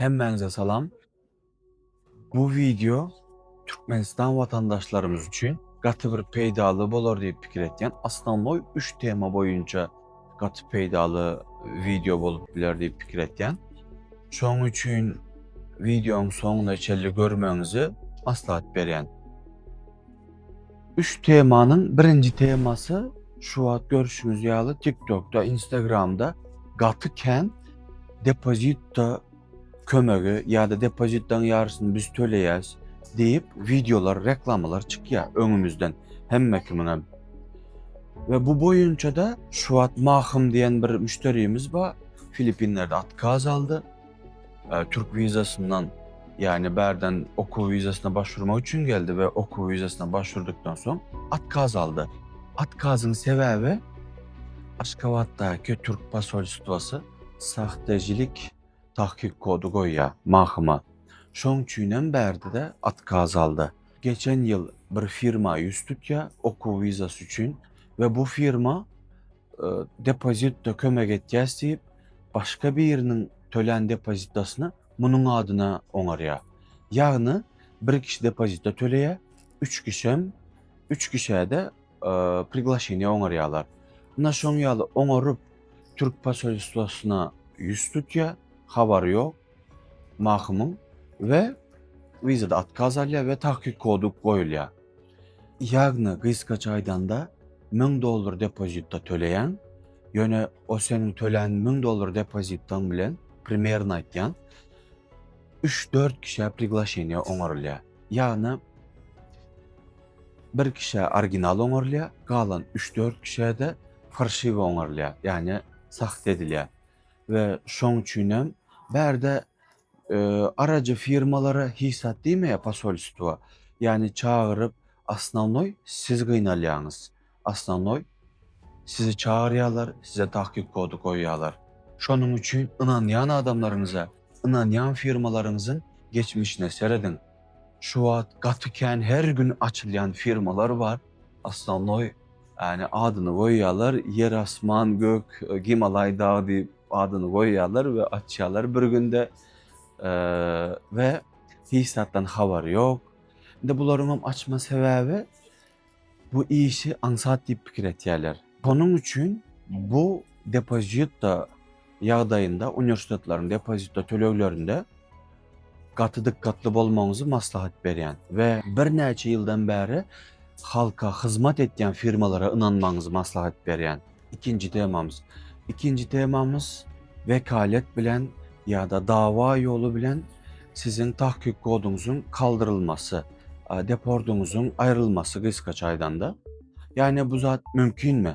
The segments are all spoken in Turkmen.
Hemmäňize salam. Bu wideo Türkmenistan watandaşlarymyz üçin gaty bir peýdaly bolar diýip pikir etýän. Osnovnoý üç tema boýunça gaty peýdaly wideo bolup biler diýip pikir etýän. Şoň üçin wideoň soňuna çenli görmegiňizi maslahat berýän. Üç temanyň birinji temasy şu wagt görüşiňiz ýaly TikTokda, Instagramda gaty kän depozitda kömegi ýa-da depozitdaň ýarysyny biz töleýäs diýip wideolar, reklamalar çykýar öňümizden hemme kimiňem. Ve bu boyunca da şu wagt Mahym diyen bir müşterimiz var. Filipinlerde atkaz aldı. Türk wizasyndan, ýagny bärden okuw wizasyna başwurmak üçin geldi we okuw wizasyna başwurdykdan soň otkaz aldy. Otkazyň sebäbi Aşgabatdaky türk posolstwasy sahtejilik tahkyk kody goýýar, mahma. Şoň üçin hem bärde-de otkaz aldy. Geçen ýyl bir firma ýüz tutýar okuw wizasy üçin we bu firma e, depozitde kömek etýäs diýip, başga biriniň tölän depozitasyny munuň adyna oňarýar. Ýagny bir kişi depozita töleýär, üç kişem, üç kişäde e, priglaşeniýe oňarýarlar. Ina şoň ýaly oňaryp Türk posolstwosyna ýüz tutýar, habary ýok. Mahymyň we wizada otkaz alýar we takyk kody goýulýar. Ýagny gysgaça aýdanda müň dollar depozitda töleýäň, ýöne o seniň tölän müň dollar depozitdaň bilen primerno aýtýan üç dört kişä priglaşeniýa oňarylýar. Ýagny bir kişä original oňarylýar, galan üç dört kişä-de farşiwe oňarylýar, ýagny sahte edilýär. we şoň üçinem bärde arajy firmalara hiç zat diýmeýär posolstwa, ýagny çagyryp osnownoý siz gynalýaňyz, osnownoý sizi çagyrýarlar, size tahkyk kody goýýarlar. Şonuň üçin ynanýan adamlaryňyza, ynanýan firmalaryňyzyň geçmişine serediň. Şu wagt gaty kän her gün açylýan firmalar bar. Osnovnoý yani adyny goýýarlar, ýer asman gök, Gimalaý dagy diýip adyny goýýarlar we açýarlar bir günde we hiç zatdan habary ýok. Indi bularyň hem açma sebäbi bu işi aňsat diýip pikir etýärler. Şonuň üçin bu depozitda ýagdaýynda uniwersitetleriň depozito töleglerinde gaty dikkatli bolmagyňyzy maslahat berýän we birnäçe ýyldan bäri halka hyzmat etýän firmalara ynanmagyňyzy maslahat berýän. Ikinji temamyz. Ikinji temamyz wekalet bilen ýa-da dawa ýoly bilen siziň tahkyk koduňyzyň kaldyrylmasy, depordyňyzyň aýrylmasy gysgaça aýdanda. Ýagny bu zat mümkinmi?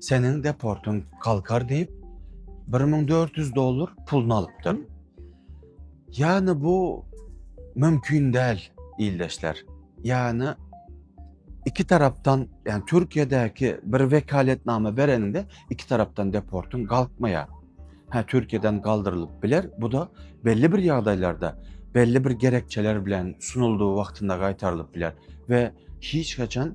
Seniň deportyň galkar diýip, bir müň dört ýüz dollar puluny alypdyr. Ýagny bu mümkin däl, ildeşler. Ýagny iki tarapdan, ýagny Türkiýedäki bir wekaletnama bereniňde iki tarapdan deportyň galkmaýar. Hä, Türkiýeden galdyrylyp biler, bu da belli bir ýagdaýlarda, belli bir gerekçeler bilen sunuldygy wagtynda gaýtarylyp biler we hiç haçan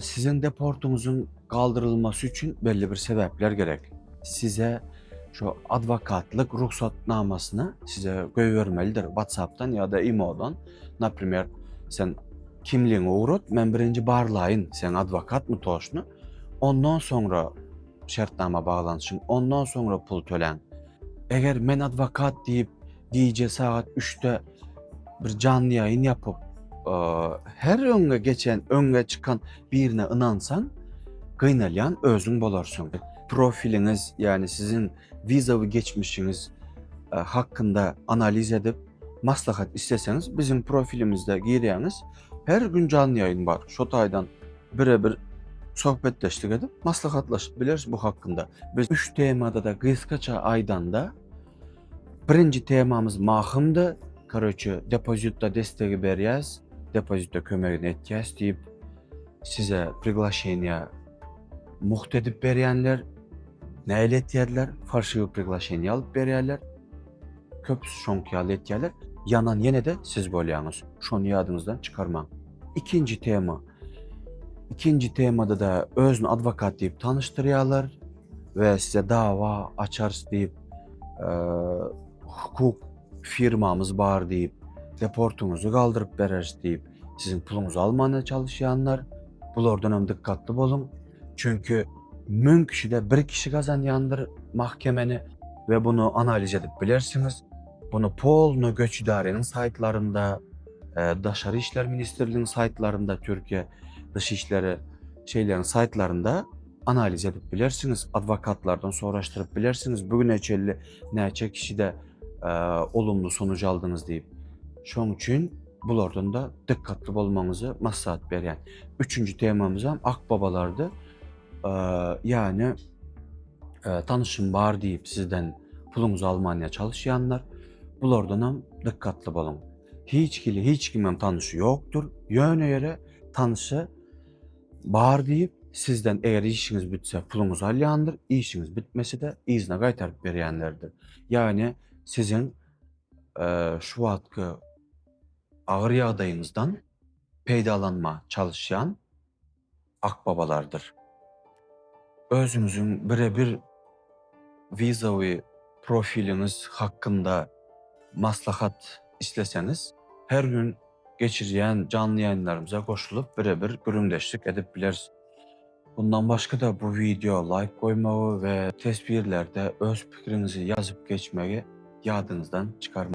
Siziň deportyňyzyň galdyrylmasy üçin belli bir sebäpler gerek. Size şu adwokatlyk rugsatnamasyny size goýbermelidir WhatsApp-dan ýa-da imo-dan. Naprimer, sen kimligiňi ugrat, men birinji barlaýyn, sen adwokatmy toşny? Ondan soňra şertnama baglanyşyň, ondan soňra pul töläň. Eger men adwokat diýip, Gije sagat üçde bir janly ýaýyn ýapyp, her öňe geçen, öňe çykan birine ynansaň, gynalýan özüň bolarsyň. Profiliňiz, ýagny siziň wizawy geçmişiňiz hakynda analiz edip, maslahat isleseňiz, biziň profilimizde girýäňiz. Her gün janly ýaýyn bar. Şo taýdan bire-bir söhbetdeşlik edip, maslahatlaşyp bileris bu hakynda. Biz üç temada-da gysgaça aýdanda, Birinji temamyz mahymdy. Koroçe, depozitda destegi berýäs, depozitda kömegini etýäs diýip, size priglaşeniýa mugt edip berýänler. Näle etýärler? Falşiwi priglaşeniýa alyp berýärler. Köpüsi şoňky ýaly etýärler. Ýanan ýene-de siz bolýaňyz. Şony ýadyňyzdan çykarmaň. Ikinji tema. Ikinji temada-da özüni adwokat diýip tanyşdyrýarlar. we size dawa açarys diýip, hukuk firmamyz bar diýip, deportuňyzy galdyryp bereris diýip, siziň puluňyzy almana çalyşýanlar. Bulardan hem dikkatli boluň. Çünki müň kişide bir kişi gazanýandyr mahkemeni we bunu analiz edip bilersiňiz. Bunu polno göç idareniň saytlarynda, e, Daşary işler ministrliginiň saytlarynda, Türkiye dış işleri şeylerin saytlarynda Analiz edip bilersiňiz, adwokatlardan soraşdyryp bilersiňiz, bu güne çenli näçe kişide olumly sonuç aldyňyz diýip. Şoň üçin bulardan da dikkatli bolmagyňyzy maslahat berýän. Üçünji temamyz hem akbabalardy. Ýagny tanışym bar diýip sizden puluňyzy almanya çalyşýanlar. Bulardan hem dikkatli boluň. Hiç hili hiç kimem tanysy ýokdur. Ýöne ýere tanysy Bar diýip, sizden eger işiňiz bitse puluňyzy alýandyr, işiňiz bitmese-de yzyna gaýtaryp berýänlerdir. Ýagny siziň şu wagtky agyr ýagdaýyňyzdan peýdalanma çalyşýan akbabalardyr. Özüňiziň bire-bir Wizawy profiliňiz hakynda maslahat isleseňiz, her gün geçirýän janly ýaýynlarymyza goşulyp, bire-bir gürrüňdeşlik edip bileris. Mundan başga-da bu wideo laýk goýmagy we teswirlerde öz pikiriňizi ýazyp geçmegi ýadyňyzdan çykarmaň.